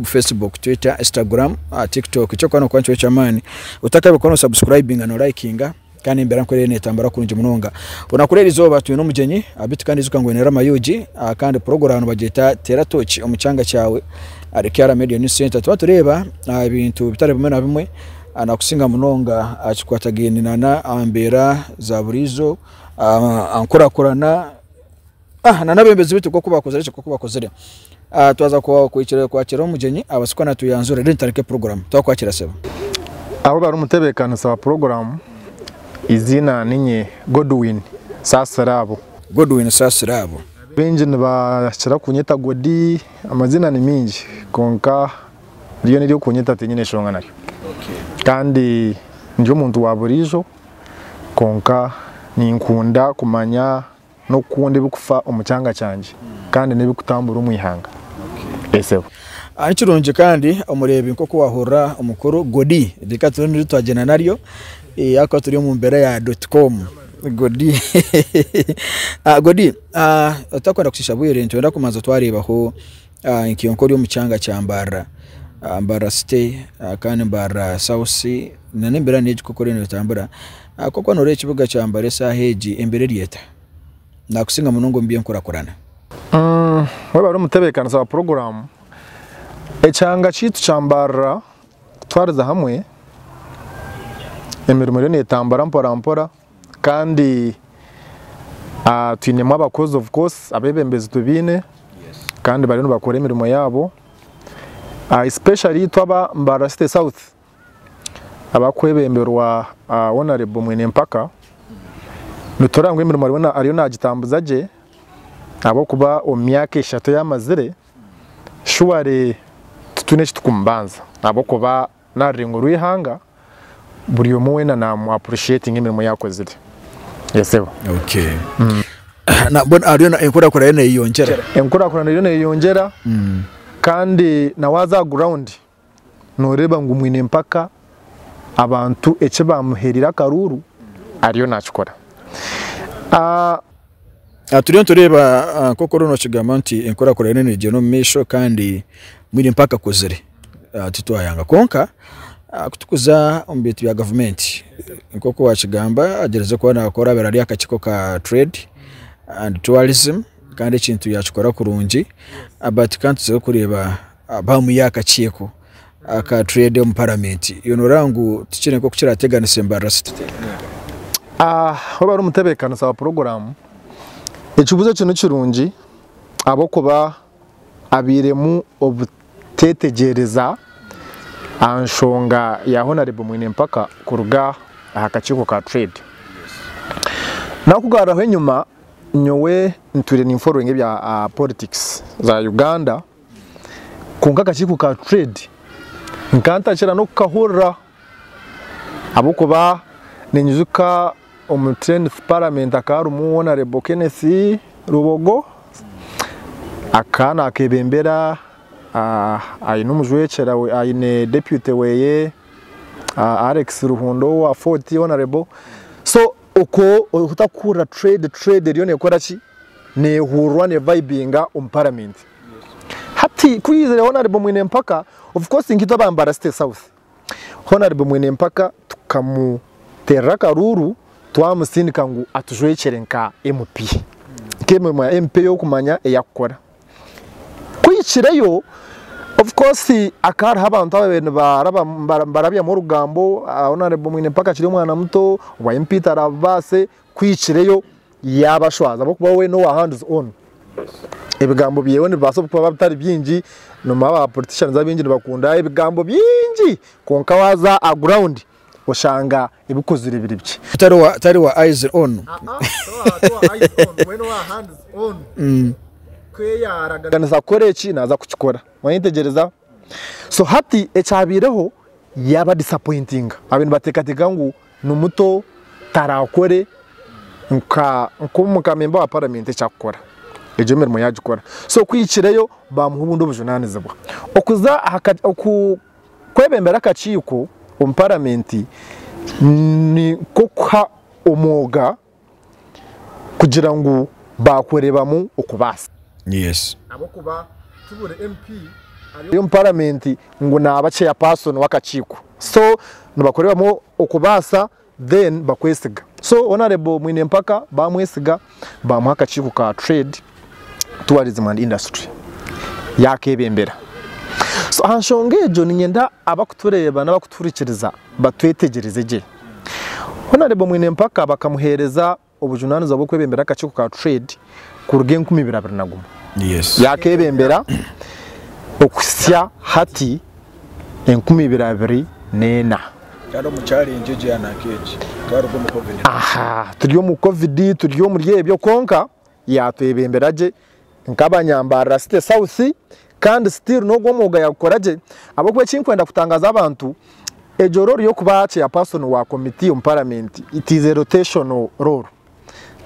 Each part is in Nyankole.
Facebook, Twitter, Instagram, ah, TikTok. Ekyokuba nokuba nikyo ky'amaani. Otakabika ono subscribinga no likinga kandi embeera nkorere netambura kurungi munonga. Onakura eri izooba twine omugyenyi abiti kandi ijuka ngu oine eramayugi ah, kandi puroguramu nibagyeta Teera Tooki omu kyanga kyawe. Ahari Kiara Media News Centre tuba tureeba ebintu bitari bimwe na bimwe nakusinga munonga aha kikwatagaine nana aha mbeera za buriijo, aha nkurakurana nana abembezi beitu nkoku bakozireki nkoku bakozire. Twaza kuhikirira kwakira omugyenyi abaase kuba natuyanzura reero nitandika puroguramu. Twakwakira sebo. Aho bari omutebekanisa wa puroguramu, eiziina ninye Godwin Saasiraabo. Godwin Saasiraabo. Baingi nibakira kunyeta Godi. Amazina ni mingi kwonka ryona ery'okunyeta tinyine enshonga naryo kandi ndi omuntu wa buriijo kwonka ninkunda kumanya n'okukunda ebirikufa omu kyanga kyangye kandi n'ebirikutambura omu ihanga. Sebo. Ni kirungi kandi omureebi nk'oku waahurira omukuru Godi reka tube niryo twagyenda naryo ahakuba turi omu mbeera ya doti koomu. Godi, Godi Otakwenda kucitsya bwiire nitwenda kubanza twareebaho nka oku ori omu kyanga kya Mbarara, Mbarara city kandi Mbarara south sea nana embera neegi oku eriyo netambura, kwonka waaba noreeba ekibuga kya Mbarara eshaaha egi embera eri eta? Nakusinga munonga omu byenkurakurana. Waaba ori omutebeekanisa wa puroguramu, ekyanga kyaitu kya Mbarara kutwarize hamwe, emirimo eriyo netambura mpora mpora, Kandi twinemu abakozi of course abebembezi tubaine kandi bariyo nibakora emirimo yaabo especially itwe aba Mbarara City South abakwebemberwa Honourable Mwenempaka nitureeba ngu emirimo ariyo nagitambuza gye ahabw'okuba omu myaka eshatu eyi amazire surely titwine eki tukumubanza ahabw'okuba N'aha rurengo rw'eihanga, buri omwe weena naamu appreciatinga emirimo yaakozire. Yes, Sebo. Okay. Na- mbwenu hariyo na- enkurakurana eriyo neyeyongyera Enkurakurana eriyo neeyeyongyera kandi na waaza aha ground nooreeba ngu mwine mpaka abantu eki baamuheereire akaruuru ariyo naakikora. Ah, Turiyo nitureeba nk'oku oriyo nookigamba nti enkurakurana eriyo neegyera omu maisho kandi mbwenu mpaka akuzire, titwayanga kwonka kutukuza omu bintu bya gavumenti nk'oku waakigamba agyerize kuba naakora abaire ari aha kakiiko ka Trade and Tourism kandi ekintu yaakikora kurungi but kandi tuze kureeba bamuha akakiiko aka trade omu parliament yoona oraba ngu tikiri nkoku kirateganisa embarara city Waba ori omutebeekanisa wa puroguraamu, ekibuuzo ekyo ni kirungi ahabw'okuba habairemu obuteetegyereza aha nshonga ya Honarebo Mwinempaka kuruga aha kakiiko ka Trade. Nakugaruraho enyima, nyowe ntwire ninforowinga ebya politikisi za Uganda. Kwonka akakiiko ka Trade nkaba ntakira n'okukahurira ahabw'okuba ninyijuka omu tenth parliament hakaba harimu Honarable Kenneth Rubogo, akaba naakebembera aine omujwekyera we, aine deputy weeye Alex Ruhunda owa Fort Honarable so Okwo otarikuhurira trade, trade eriyo nekora ki? Nehururwa ne vibinga omu parliament. Hati ku yaizire honourable mwine mpaka, of course nka itwe aba Mbara city south, honourable mwine mpaka tukamuterera akaruuru twamusindika ngu atujwekyere nka MP. Nka emirimo ya MP eyokumanya eyakukora. Ku hikireyo, of course hakaba hariho abantu abaabaire nibarabyamu orugambo, oriya naareebwa omwine mpaka akiri omwana muto, owa MP taraabibaase, ku hikireyo yaabashwaza ahabw'okuba we n'owa hands on. Ebigambo bye nibibaasa kuba bitari bingi, noomanya ba politicians abaingi nibakunda ebigambo bingi kwonka waaza aha guraaundi oshanga ebikozire biri bikye. Tari wa tari wa eyes on. Kweyaaraganiza kukora eki naaza kukikora. Waayetegyereza? So hati ekyabaireho yaabadisappointinga. Baabaire nibateekateeka ngu ni muto taraakore nka nk'omu ka memba wa paramenti eki arikukora. Egyo emirimo yaagikora. So kuhikireyo baamuha obundi obujunaanizibwa. Okuza aha ka oku. Kwebembera akakiiko omu paramenti ni nk'okuha omwoga kugira ngu baakureebamu okubaasa. Yes. Ahabw'okuba ti buri MP ari omu paramenti ngu naaba chairperson w'akakiiko so nibakureebamu okubaasa. then bakwesiga so honourable mwine empaka bamwesiga bamuha akakiiko ka trade tourism and industry yakebembera so ahanshonga egyo ninyenda abakutureeba nabakutuhurikiriza batwetegyereze gye honourable mwine empaka bakamuheereza obujunaanizibwa bw'okwebembera akakiiko ka Trade kuruga enkumi ibiri abiri na gumwe. Yaakebembera okuhitsya hati enkumi ibiri abiri n'ena. Turi omu covid, turi omuri ebyo kwonka yaatwebembera gye Nkabanyambarira City South kandi still nogwo omwoga yagukora gye ahabwokuba ekinkwenda kutangaza abantu egyo role yokuba chairperson wa committee omu parliament it is a rotational role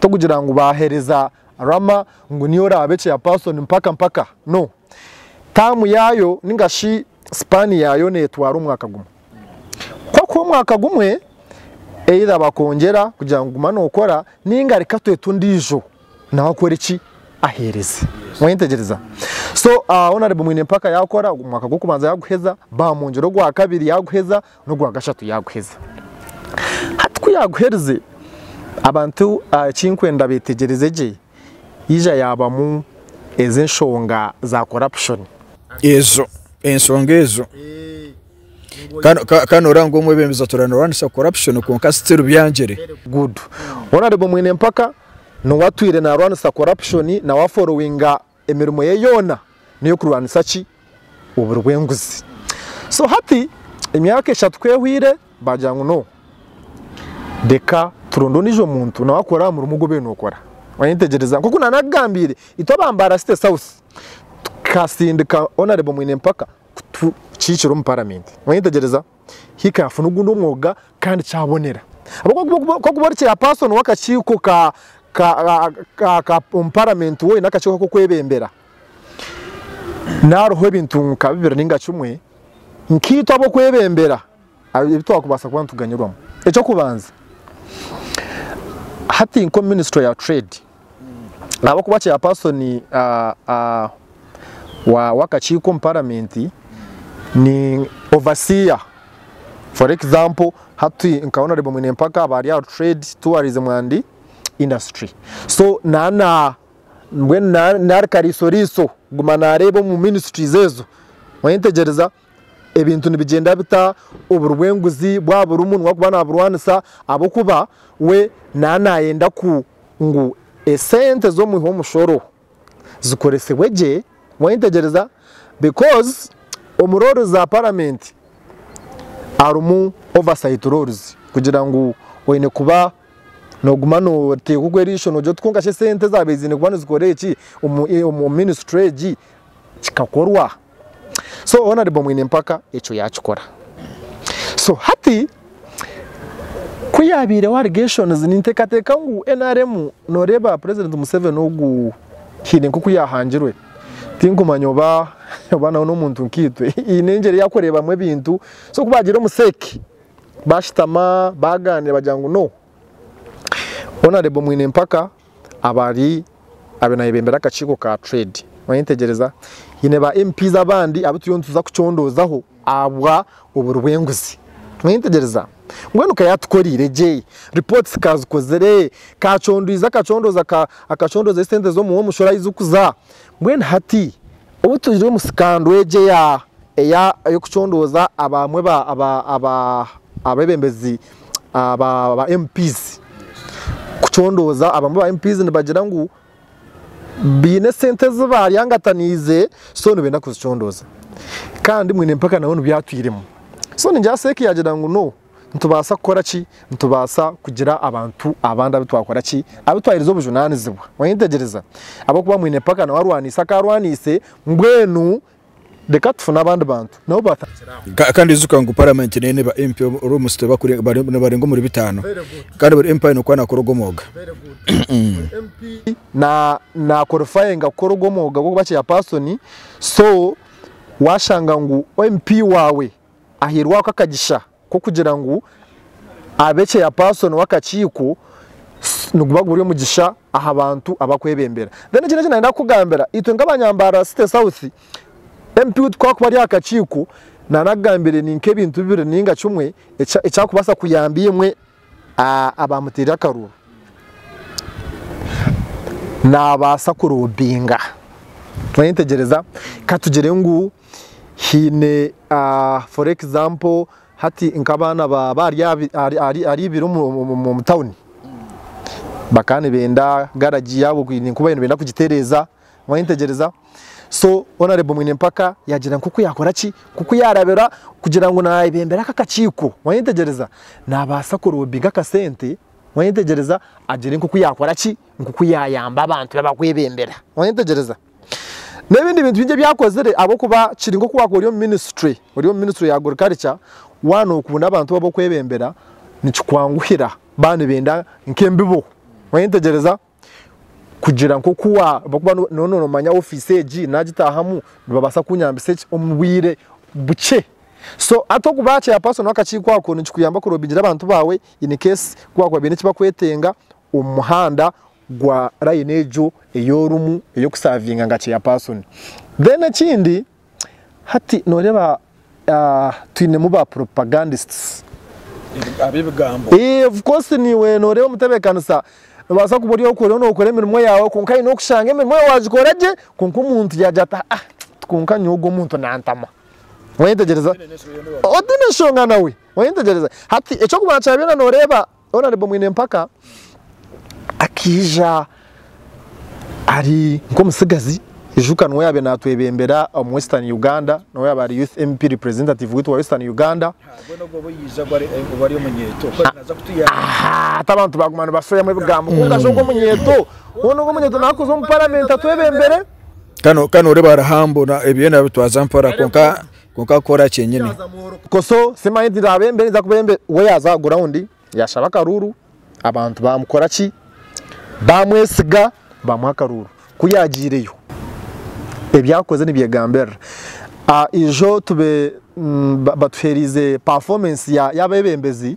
tokugira ngu bahereza Rama ngu niwe orabe chairperson mpaka mpaka no term yayo ninga shi span yayo netwara omwaka gumwe kwakuba omwaka gumwe either bakongyera kugira ngu guma nokora ninga reka twete ondijo. nawe akore ki aheereze mwayetegyereza so ah, honorable mwine empaka yakora omwaka gw'okubanza yaguheza bamwongyera ogwa kabiri yaguheza n'ogwa gashatu yaguheza hati ku yaguherize abantu ah, ekinkwenda betegyereze gye yija yabamu ez'enshonga za corruption ezo ensonga ezo Ka noreeba ngu omwebembezi atuura narwanisa corruption kwonka still byangyire. Good. Honourable Mwinempaka nowe atwiire narwanisa corruption nawe a followinga emirimo ye yoona neyokurwanisa ki? Oburi bw'enguzi. So hati emyaka eshatu ku ehweire bagira ngu no reka turonde ondiijo muntu nawe akore aha murimo ogu obeire nokora. Wayetegyereza nkoku naaba nakugambiire itwe aba Mbaara City South tukasindika Honourable Mwinempaka. kutukiikira omu paramenti. Mwayetegyereza? Hika yafuna ogundi omwoga kandi kyabonera. Ahabw'okuba ku orikuba ori chairperson w'akakiiko omu paramenti woine akakiiko k'okwebembera, nihariho ebintu nka bibiri nainga kimwe nkaitwe ab'okwebembera ebi twakubaasa kuba nituganyirwamu. Eky'okubanza, hati nk'omu minisitule ya Trade, Ahabw'okuba Chairpersoni w'akakiiko omu Paramenti ni Overseer. For example, hati nka Honourable Mwinempaka aba ari ahari Trade, Tourism and Industry. So naana mbwenu naari kariisoriiso kuguma naareeba omu Ministries ezo, oyentegyereza? Ebintu nibigyenda bita oburi bw'enguzi bwaba burimu niwe arikuba naburwanisa ahabw'okuba we naaba nayenda ku ngu esente z'omwiha omushoro zikoresibwe gye wayetegyereza because omu roles za paramenti harimu oversight roles kugira ngu oyine kuba noguma noteeka ogwe erisho nogira oti kwonka shi esente ezaabaire zine kuba nizikora eki omu minisitule egi kikakorwa. so honorable mwine mpaka ekyo yakikora so hati ku yabaireho allegations nintekateka ngu nrm noreba president Museveni ogu haine nkoku yahangirwe tinkumanya oba oba nawe nomuntu nkaitwe haine engyeri eyakurebamu ebintu so ku bagire omu sec bashitama baganira bagira ngu no Honourable Mwinempaka abari abe nayebembera akakiiko ka trade oyetegyereza haine ba MP's abandi abu turiyo nituza kucondoozaho ahabwa oburi bw'enguzi oyetegyereza mbwenu ka yatukoreire gye reports ka azikozire ka acondwize akacondooza ka acondooza esente z'omuha omushoro ahu zikuza mbwenu hati Obu twire omu sikando egi ey'okucondooza abamwe abebembezi ba MP nibagira ngu baine esente ezi baryangataniize so nibenda kuzicondooza kandi mbwenu empaka nabwo nibyatwiremu so ningira Cec yaagira ngu no. Nitubaasa kukora ki? Nitubaasa kugira abantu abandi abu twakora ki? Abu twaheereza obujunaanizibwa. Mwayetegyereza? Ahabw'okuba mwine mpaka nawe arwaniise aku arwaniise, mbwenu reka tufune abandi bantu nabo baataagira aho. Kandi ijuka ngu Paramenti neine ba MP orwomutsyo tibarenga omuri bitaano. Kandi buri MP aine oku naakora ogwo mwooga. ahairweho akagisha k'okugira ngu abe chairperson w'akakiiko niguba guri omugisha aha bantu abakwebembera. Then ekindi eki nayenda kukugambira, itwe nka abanyambarara City South, MP witu ku akuba ari aha kakiiko, nana akugambire ni nk'ebintu bibiri ninga kimwe ekyakubaasa kuyamba imwe abaamuteire akaruru naabaasa kuroobinga. Oyetegyereza? Ka tugire ngu haine for example hati nk'abaana baaba ahaiguru omu tauni, bakaba nibenda garagi yaabo ninkuba nibenda kugitereeza, Mwayetegyereza? So, Honourable Mwinempaka yaagira nk'oku yaakora ki? Nk'oku yaarabira kugira ngu naayebembera aka akakiiko. Mwayetegyereza? Naabaasa kuroobinga akasente, mwayetegyereza, agire nk'oku yaakora ki? Nk'oku yaayamba abantu be abakwebembera. Mwayetegyereza? N'ebindi bintu bingi ebi akozire ahabw'okuba kiri nk'oku waakuba ori omu minisitule, ori omu minisitule ya agriculture, waaba nookunda abantu bo ab'okwebembera, nikikwanguhira baaba nibenda nk'embibo. Mwayetegyereza? kugira nk'oku waaba nooba noomanya ofiisi egi naagitaahamu nibabaasa kunyambisa ki omu bwire bukye. So hati okuba aha chairperson w'akakiiko ako nikikuyamba kuroobingira abantu baawe in case ku baakuba baine eki bakwetenga omu muhanda gwa layini egyo ei orimu ey'okusaavinga nka chairperson. Then ekindi Hati noreeba twinemu ba propagandists abebigambo eeh of course niiwe noreeba omutebekanisa nobaasa kuba ori oku oriyo nokora emirimo yaawe kwonka haine okushanga emirimo yaawe wagikora gye kwonka omuntu yagira ati haa kwonka nyowe ogu omuntu nantama oyetegyereza otiine enshonga nawe oyetegyereza hati ekyokubanza kyabaire noreeba Honourable Mwinempaka akaija ari nk'omutsigazi ijuka niwe yaabaire naatwebembera omu Western Uganda niwe yaabaire ari Youth MP Representative waitu wa Western Uganda hati abantu baaguma nibasoyamu ebigambo kwonka aza ogwo omunyeeto hoona ogwo omunyeeto nawe kuza omu Paramenti atwebembere kandi nooreeba ari humble ebyona abitwaza mpora kwonka Kwonka kora kyenyini. Koso simanyi nti naabe mbe ninza kuba embe we yaaza ground yaashaba akaruuru abantu baamukora ki baamwesiga baamuha akaruuru ku yaagyireyo ebi akoze nibyegambirira a ijo tube batuheeriize performance ya y'abeebembezi.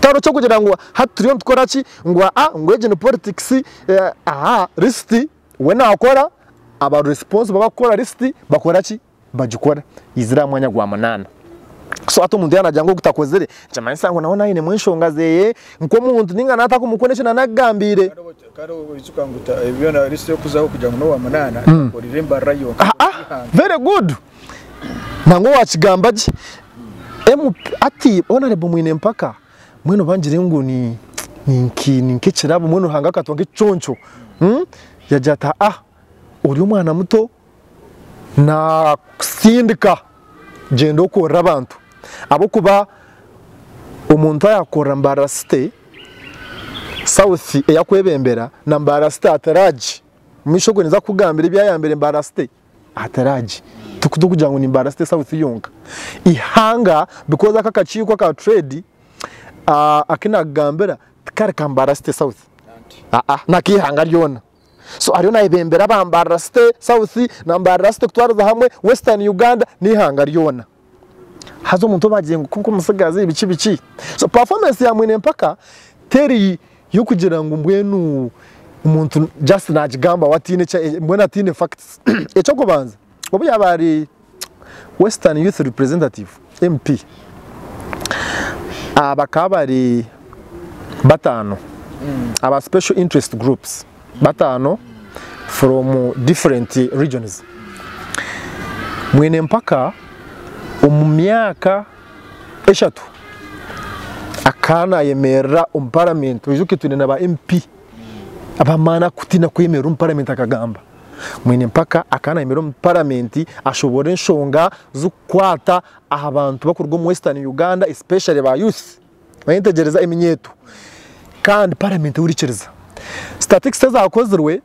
Tihariho ky'okugira ngu hati turiyo nitukora ki, ngu aa ngu egi ni politikisi, aa risiti we naakora, abari risiponsibo abakukora risiti bakora ki, bagikora yaizire aha mwanya gwa munaana. So hati omuntu yaaba naagira ngu ogu takozire nikimanyisa ngu nawe ainemu enshonga zeeye nk'omuntu nainga naaba atarikumukwenda eki naaba nagigambiire. Haa, very good! Nangwa owakigamba gye MP ati honorable mwine empaka mbwenu bangire ngu ni ninki ninkekirabo mbwenu ruhanga akatuha nkekiconco umm yagira ati aa ori omwana muto nakusindika gyenda okorere abantu ahabwokuba omuntu ayakorera mbarara city south eyakwebembera na mbarara city ataragyi omumaisho gwe ninza kukugambira ebyayambire mbarara city. Ahataragi tikutu kugira ngu ni Mbarasite South yonka ihanga because aka akakiiko aka trade aku nakugambira tikari ka Mbarasite South aa n'akeihanga ryona so ariyo nayebembera aba Mbarasite South na Mbarasite kutwariza hamwe Western Uganda n'eihanga ryona. haza omuntu obagire ngu kwonka omutsigazi biki biki so performance ya mwine mpaka teri yokugira ngu mbwenu omuntu just nagigambaho atine mbwenu atine facts ekyokubanza obuyaba ari western youth representative MP bakaba bari batano aba special interest groups. bataano from different regions mwine mpaka omu myaka eshatu akaba nayemerera omu parliament oijuke twine na ba MP abamaani arikutiina kwemerera omu parliament akagamba mwine mpaka akaba nayemerera omu parliament ashoboore enshonga zirikukwata aha bantu barikuruga omu western Uganda especially ba youths. Nayetegyereza eminyeeto kandi paramenti ehurikiriza. Statics ezakozirwe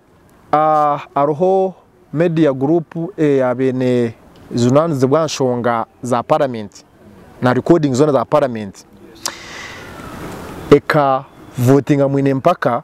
hariho media group eya bene zijunanizibwa aha nshonga za paramenti na recording zona za paramenti eka votinga mwine mpaka.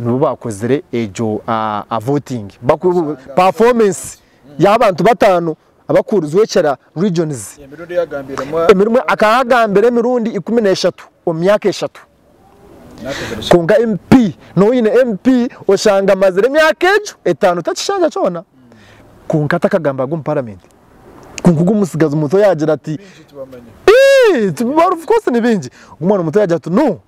nibo bakozire egyo voting bakuru performance y'abantu bataano abakuhurizwa ekira regions emirundi akahagambira emirundi ikumi n'eshatu omu myaka eshatu kwonka MP nooba oine MP oshanga amazire emyaka egyo etaano takishanja kyona kwonka takagamba ag'omu paramenti kwonka ogw'omutsigazi muto yaagira ati of course ni baingi ogw'omwana muto yaagira ati no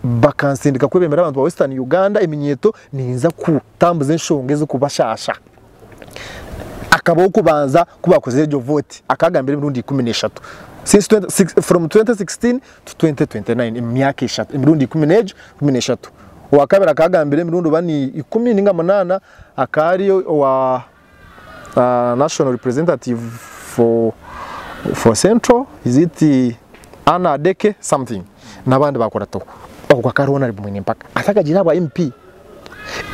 bakansindika kwebembera abantu ba Western Uganda eminyeeto ninza kutambuza enshonga ez'okubashaasha. Akabaho okubanza ku baakozire egyo vooti akaagambira emirundi ikumi n'eshatu since twenty six from twenty sixteen to twenty twenty nine emu myaka eshatu emirundi ikumi n'egi ikumi n'eshatu. Owaakabiri akaagambira emirundi oba ni ikumi ninga munaana akaari owa uh, national representative for, for central is it Anna Adeke something n'abandi bakora to ogwo akaba ari honorable mwine mpaka ate akagira aha bwa MP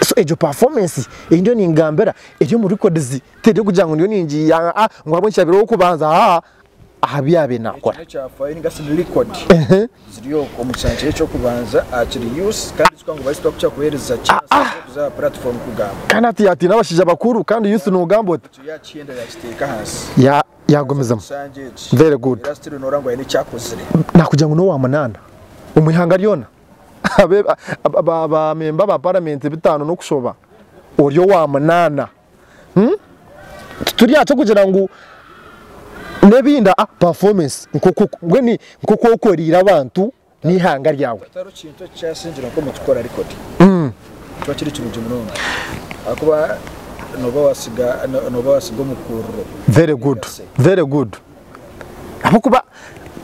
so egyo performance ei ndiyo ningambira eri omu records teri okugira ngu ndiyo ningi ah, ah, ngu ahabw'enki yaabaire ow'okubanza aa ah, aha bi yaabaire naakora. Kandi hati yaatiina abashaija bakuru kandi youth noogamba ota? Yaagumizamu. Very good. Naakugira ngu n'owa munaana omu ihanga ryona? Ba memba ba paramenti bataano n'okushoba ori owa munaana? Hmm? Tituri aha ky'okugira ngu n'ebindi ah, performance nk'oku mbwenu nk'oku okoreire abantu n'eihanga ryawe. Tari kintu ekikyasingire nk'omu kukora rekodi Hmm. kiba kiri kirungi munonga ahakuba nooba waasiga no- nooba waasiga omukuuriro Very good, very good. Ahabw'okuba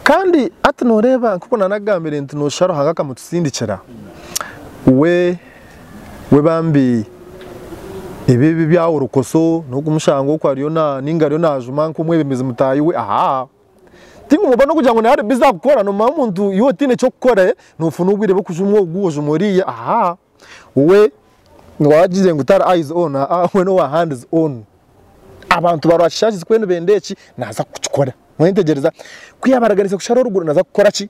kandi hati nooreeba nk'oku naanagambire nti nooshusha Ruhanga akamutusindikira, we we bambi ebi ebi bya worokoso n'okumushanga oku ariyo na ninga ariyo najuma nk'omwebembezi mutaahi we ahaa tinkumugamba n'okugira ngu nawe ari bizi akukora nomanya omuntu iwe otaine eky'okukora nofuna obwire bw'okujuma ogu ojuma oriya ahaa we wagizire ngu tari eyes on aa we n'owa hands on abantu ba rwakishaagi zikube nibenda eki naza kukikora mwetegyereza ku yabaraganisa kushara orugura naza kukora ki?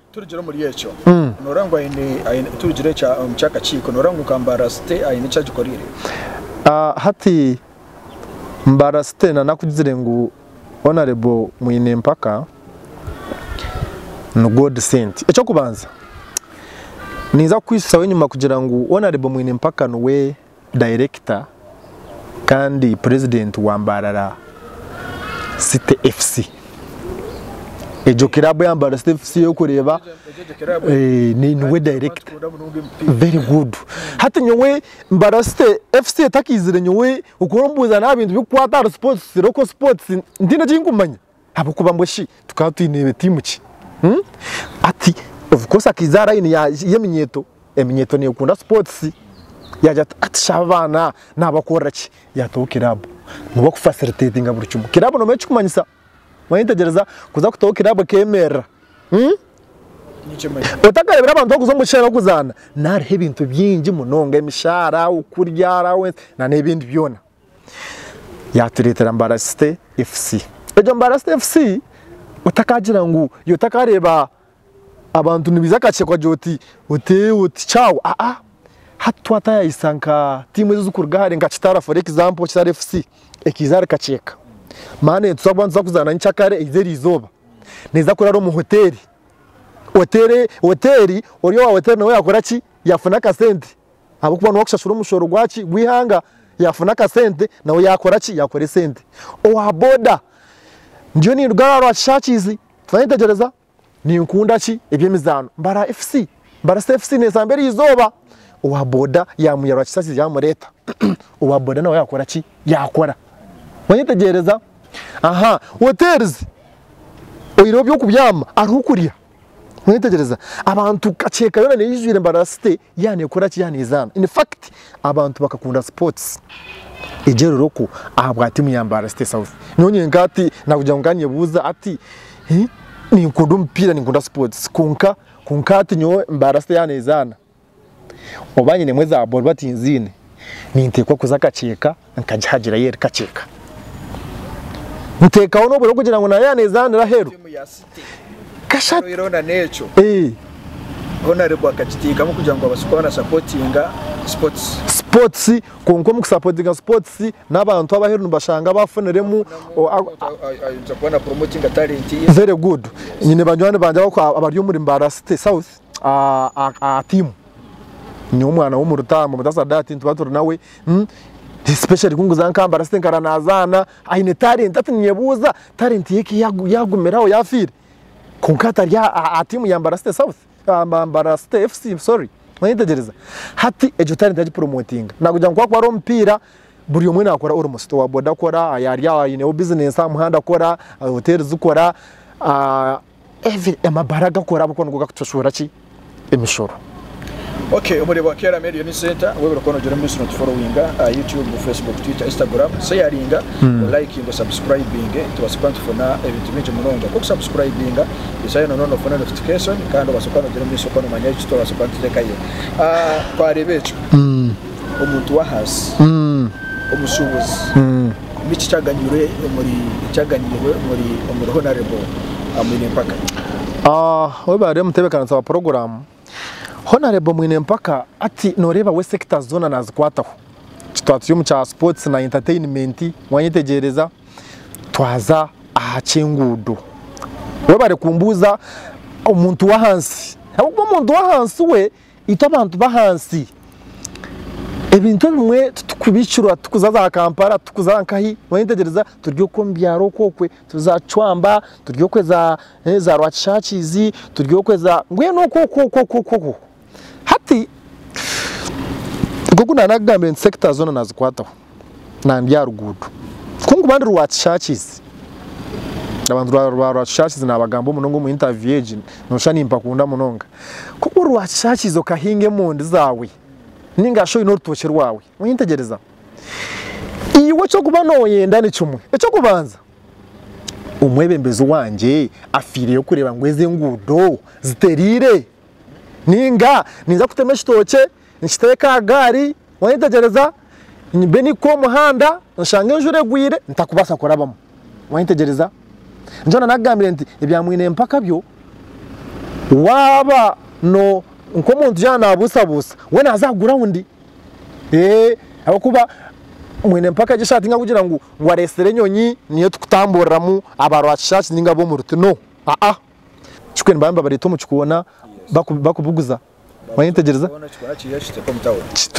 Turugire omuri ekyo, nooreeba ngu aine, aine, turugire ekyo omu ky'akakiiko, nooreeba ngu nka Mbarasite aine eki agikoreire? Hati Mbarasite na nakugizire ngu Honourable Mwinempaka ni God sent. Eky'okubanza ninza kukwisusaho enyima kugira ngu Honourable Mwinempaka niwe dayirekita kandi purezidenti wa Mbarara City FC. Egyo kiraabu ya Mbarara City FC orikureeba niwe dayirekita. Very good. Hati nyowe Mbarara City FC etakaizire nyowe oku orikumbuuza nabi ebintu ebirikukwata ahari sipootisi, local sports, ntiine eki nkumanya. Ahabw'okuba mbwe shi tukaba twine tiimu ki? Ati, ovukosi akaiza aha layini y'eminyeeto, eminyeeto neekunda sipootisi. Yaagira ati, Ati shi aba abaana naabakorera ki? Yaataho kiraabu ngu bakufasiliteetinga buri kimwe. Kiraabu noomanya eki kirikumanyisa? Manya tegyereza kuza kutaho kiraabu ekeemerera. Otakareebire abantu barikuza omu kishushani barikuzaana, naho hariho ebintu bingi munonga, emishaara, okurya, allowance nan'ebindi byona. yaatureetera Mbarasite FC. Egyo Mbarasite FC otakagira ngu yo takareeba abantu nibaija akakikwa gye oti oti oti chao aa hati twatayayisa nka tiimu ezi ezikuruga hare nka Kitara for example Kitara FC ekaiza ahari kakyeeka mani neetuza kuba nituza kuzaana nyikyakare eize erizooba neeza kuraara omu hoteeri, hoteeri hoteeri ori owa hoteeri nawe yaakora ki yaafuna akasente ahabw'okuba niwe arikushashura omushoro gwaki gw'eihanga yaafuna akasente nawe yaakora ki yaakora esente. Owa boda, ndiyo ninduga aha rwa kishaakiizi twaba nitwetegyereza ninkunda ki eby'emizaano mbara FC mbara CFC neeza mbere eizooba owa boda yaamwiha rwa kishaakiizi yaamureeta owa boda nawe yaakora ki yaakora. Waayetegyereza? Aha, hoteerizi oyihireho eby'okubyama hariho okurya. Mwetegyereza, abantu kakyeka yoona neija eijwire embara site yaaba neekora ki, yaaba neezaana. In fact, abantu bakakunda sipootisi egyo eriri okwo ahabwa tiimu ya Mbaara City South. Nyowe nyenka hati naakugira ngu nkaanyebuuza hati ninkunda omupiira, ninkunda sipootisi kwonka kwonka hati nyowe Mbaara City yaaba neezaana, Oba nyinemu eza boruba tinziine, ninteekwa kuza akakyeka nkagihagirayo eri kakyeka. Nteekaho n'obwire bw'okugira ngu naabe yaaneezaanira aheeru. Kashatu. Obwire obwo naneekyo. Eeh. Ho nareebwa akakiteekamu kugira ngu abaase kuba nasapotinga sipotisi. Sipotisi, kwonka omu kusapotinga sipotisi n'abantu abaheeru nibashanga baafuniremu. Ayija kuba napuromotinga talenti ye. Very good. Nyine banywani bangye abari omuri Mbaara City South. aha tiimu nyowe omwana w'omurutaama omuta sadati nituba turi nawe hmm, especially kunguza nkambara site nkara nazaana aine talenti ati ninyebuuza talenti yeki yagumiraho yafiire kwonka atari aha tiimu ya mbara site south mbara site fc sorry oyetegyereza hati egyo talenti yagipromotinga nakugira ngu kwakuba ari omupiira buri omwe nakora ori musito wa boda akora ayari aho aineho bizinesi aha muhanda akora hoteeri zikora Every amabare agakora ahabw'okuba nigo gakutushuura ki emishoro. Ok obu oreeba wakeeramu eriyo ni senta webare kuba nogira omumiisiri otuforowinga aha YouTube, Facebook, Twitter, Instagram, seyaringa, olayikinge, osabusukuraibinge tubaase kuba nitufuna ebintu bingi munonga nk'oku sabusukuraibinga ijayo na noona ofune notifikeshoni kandi obaase kuba nogira omumiisiri okuba nomanya eki twabaasa kuba nituteekayo. Twareeba ekyo omuntu w'ahansi, omushuubuzi. Niki kyaganyirwe omuri ekyaganyirwe omuri omuri Honourable Mwinempaka? Webare mutebekanisa wa porogramu. Honourable Mwinempaka hati noreeba we sectors zoona nazikwataho. Twaba turi omu kya sports na entertainment wanyetegyereza, twaza aha ky'enguudo. Webare kumbuuza omuntu w'ahansi ahabw'okuba omuntu w'ahansi we, Itwe abantu b'ahansi ebintu ebimwe titukubihikirwa, tikuza za Kampala, tikuza nkahi, wayetegyereza turi okwo omu byaro okwo okwe, turi za Cwamba, turi okwe za Rwakishakiizi, turi okwe za, mbwenu okwo okwo okwo okwo okwo okwo, hati nk'oku naaba naakugambire nti sector zoona naazikwataho. nandi aha ruguuto kunkuba ndi rwakishakizi abantu ba rwakishakizi nabagamba munonga omu interview egi noshusha nimpakunda munonga kuba ori rwakishakizi okahinga emondi zaawe ninga shi oyine orutookye rwawe oyentegyereza iwe ekyokuba noyenda nikimwe ekyokubanza omwebembezi wangye afiireyo kureeba ngu ezi enguudo zitereire ninga ninza kutema ekitookye nikiteeka aha gaari wayetegyereza mbe nikukuha omuhanda oshanga enjura egwire ntakubaasa kurabamu wayetegyereza nikyo nana akugambire nti ebya mwine mpaka byo waaba no nk'omuntu yaaba nabuusabuusa we naaza aha gurawundi ee ahabw'okuba mwine mpaka egi esaati nkakugira ngu ngu areetsire enyonyi niyo tukutamburiramu aba rwakishaaki ninga ab'omu ruti no aa kikwe nibaaba nibabareeta omu kikoona baku bakubuguza wayetegyereza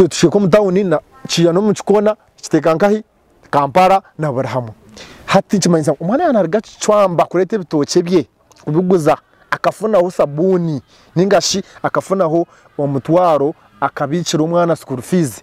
kishweka omu tawuni kiya nomu kikoona kiteeka nkahi Kampala na buri hamwe hati nikimanyisa ngu omwana yaaba naruga Kicwamba kureeta ebitookye bye kubiguza akafunaho sabuuni ningashi akafunaho omutwaro akabiikira omwana school fees.